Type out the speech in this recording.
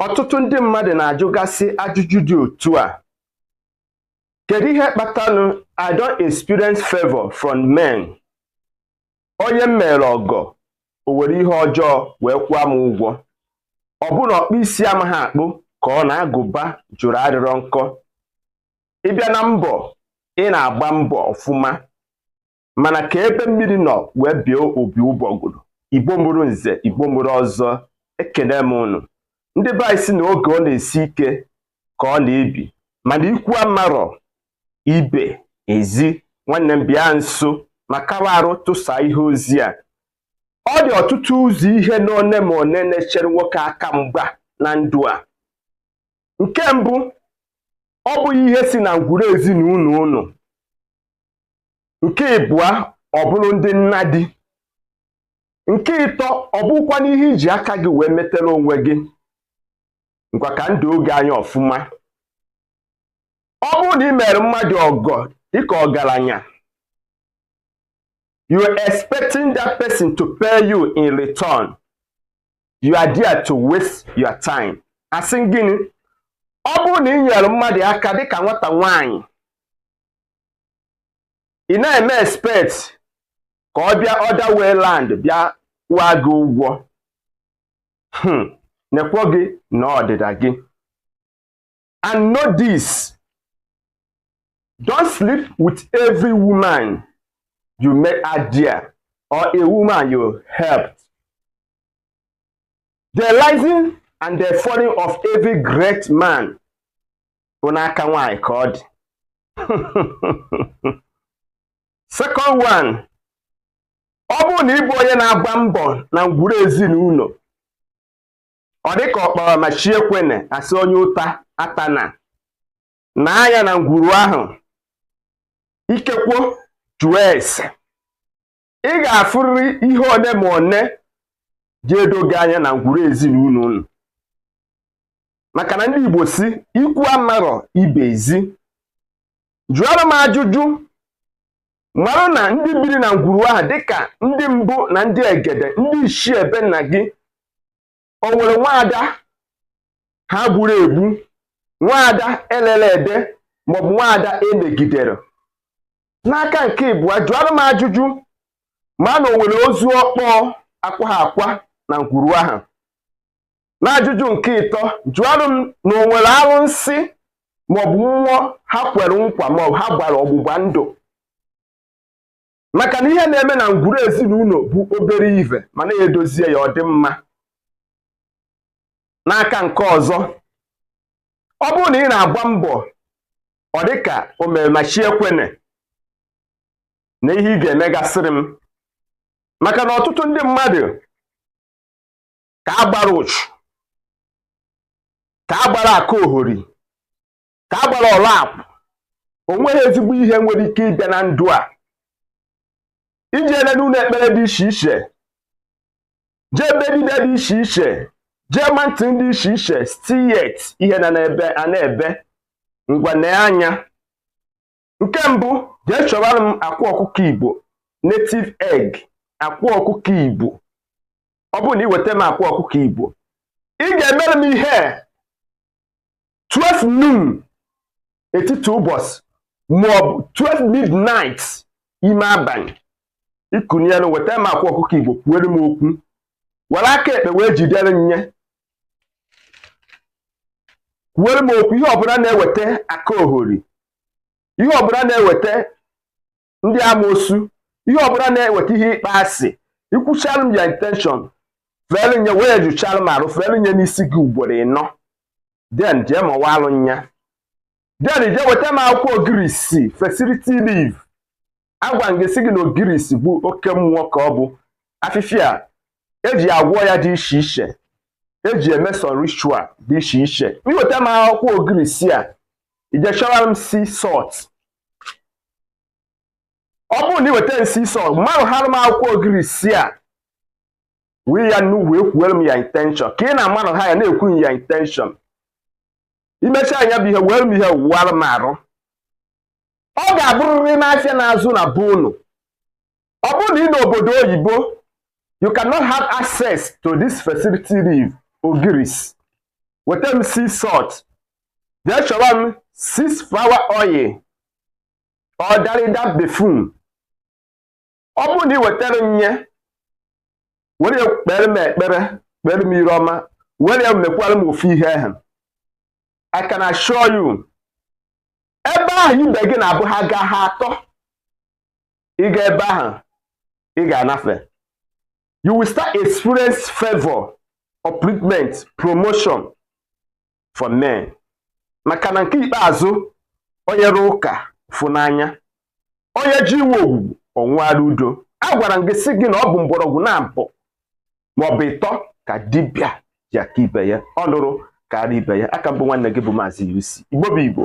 ọtụtụ ndị mmadụ na-ajụgasị ajụjụ dị otu a kedu ihe kpatanụ i don't experience favor from men onye m meere ọgọ o were ihe ọjọọ wee kwụọ m ụgwọ ọ bụ na ọkpụ isi amaha akpụ ka ọ na agụba jụrụ adịrọ nkọ ị bịa na mbọ ị na-agba mbọ ọfụma mana ka ebe mmiri nọ wee baa opi ụgbọgụrụ igbo mụrụ nze igbo mụrụ ọzọ ekene m unu ndị be anyị sị na oge ọ na-esi ike ka ọ na-ebi mana ikwu amarọ ibe ezi nwanne m bịa nso ma kawa arụ tụsa ihe ozi a ọ dị ọtụtụ ụzọ ihe n'one ma one na-echere nwoke aka mgba na ndụ a nke mbụ ọ bụghị ihe si na ngwuru ezinụnọ unu nke ịbụa ọ bụrụ ndị nna di nke ịtọ ọ bụkwa n'ihe i ji aka gị wee metara onwe gị ngwa ka m doo gị anya ọfụma ọ bụrụ na i meere mmadụ ọgọ dịka ọgaranya you are expecting that person to pay you in return you are there to waste your time asị m gịnị ọ bụrụ na i nyeere mmadụ aka dịka nwata nwaanyị ị na-eme expect ka ọ bịa other way round bịa kwụọ gị ụgwọ hmm, nekwo gị na ọdịda gị and know this don't sleep with every woman you met out there or a woman you helped the rising and the falling of every great man bụ n'aka nwaanyị ka ọ dị second one ọ bụrụ na ị bụ onye na-agba mbọ na ngwuru ezinụnọ ọ dị ka ọ kpara ma chi ekwene a sị onye ụta atana ya na ngwuru ahụ ikekwo jụọ ese ị ga-afụrịrị ihe one ma one ji edo gị anya na ngwuru ezinụnọ unu maka na ndị Igbo sị ikwu amarọ ibe ezi jụọrọ m ajụjụ mara na ndị biri na ngwuru ahụ dịka ndị mbụ na ndị egede ndị ichie ebe nna gị o nwere nwaada ha gburu egbu nwaada e rere ere maọbụ nwaada e megidere n'aka nke ịbụa jụọrụ m ajụjụ ma na o nwere ozu ọkpọọ akwaha akwa na ngwuru ahụ n'ajụjụ nke ịtọ jụọrụ m na o nwere arụsị maọbụ mmụọ ha kwere nkwa maọbụ ha gbara ọgbụgba ndụ maka na ihe na-eme na ngwuru ezinụlọ bụ obere ive mana e dozie ya ọ dị mma n'aka nke ọzọ ọ bụrụ na ị na-agba mbọ ọ dị ka o mere ma chi ekwene na ihe ị ga-emegasịrị m maka na ọtụtụ ndị mmadụ ka a gbara uchu ka a gbara aka ohori ka a gbara ọla akwụ o nweghị ezigbo ihe nwere ike ịbịa na ndụ a i jeele n'ụlọ ekpere dị iche iche jee be dibịa dị iche iche jee mountain dị iche iche still yet ihe na-ebe a na-ebe ngwa nee anya nke mbụ jee chọbara m akwa ọkụkọ igbo native egg akwa ọkụkọ igbo ọ bụrụ na ị weta m akwa ọkụkọ igbo ị ga-emere m ihe 12 noon etiti ụbọchị maọbụ 12 midnight ime abalị ịkụnyere weta m akwa ọkụkọ igbo kwuere m okwu were aka ekpe wee jidere m ya kwuere m okwu ihe ọbụla na-eweta aka ohori ihe ọbụla na-eweta ndị amoosu ihe ọbụla na-eweta ihe ịkpọ asị i kwuchara m ya intention fere m ya wee jụchara m arụ fere m ya n'isi gị ugboro ịnọ then jee mawaalụ m ya then jee weta m akwụkwọ ogirisi fertility leaf agwa m gị sị gị na ogirisi bụ oke mmụọ ka ọ bụ afịfịa eji agwọ ọya dị iche iche eji eme some ritual dị iche iche i weta m akwụkwọ ogirisi a i jee chọwa m sea salt ọ bụrụ na i weta m sea salt marụhara m akwụkwọ ogirisi a wee ya nnu wee kwuwere m ya intention ka ị na-amarụha ya na-ekwu ya intention i mechaa nya bụ ihe were m ihe wụwara m arụ ọ ga-abụrịrị n'afịa na-azụ na be unu ọ bụrụ na ị nọ obodo oyibo you cannot have access to this fertility leaf ogirisi weta m sea salt jee chọwa m six flower oil or darida perfume ọ bụrụ na ị wetara m ya were ya kpere m ekpere kpere m iru ọma were ya mekwara m ofu ihe ahụ I can assure you ebe ahụ ibe gị na-abụ ha gaa ha atọ ị gaa ebe ahụ ị ga-anafe you will start experience favor upliftment promotion for men maka na nke ikpeazụ onye rụọ ụka ọ fụ n'anya onye ji iwe ogwugwu ọ nwụara udo a gwara m gị sị gị na ọ bụ mgbọrọgwụ naabọ maọbụ ịtọ ka dibịa ji aka ibe ya ọ nụrụ karịa ibe ya aka m bụ nwanne gị bụ maazị UC Igbo bụ Igbo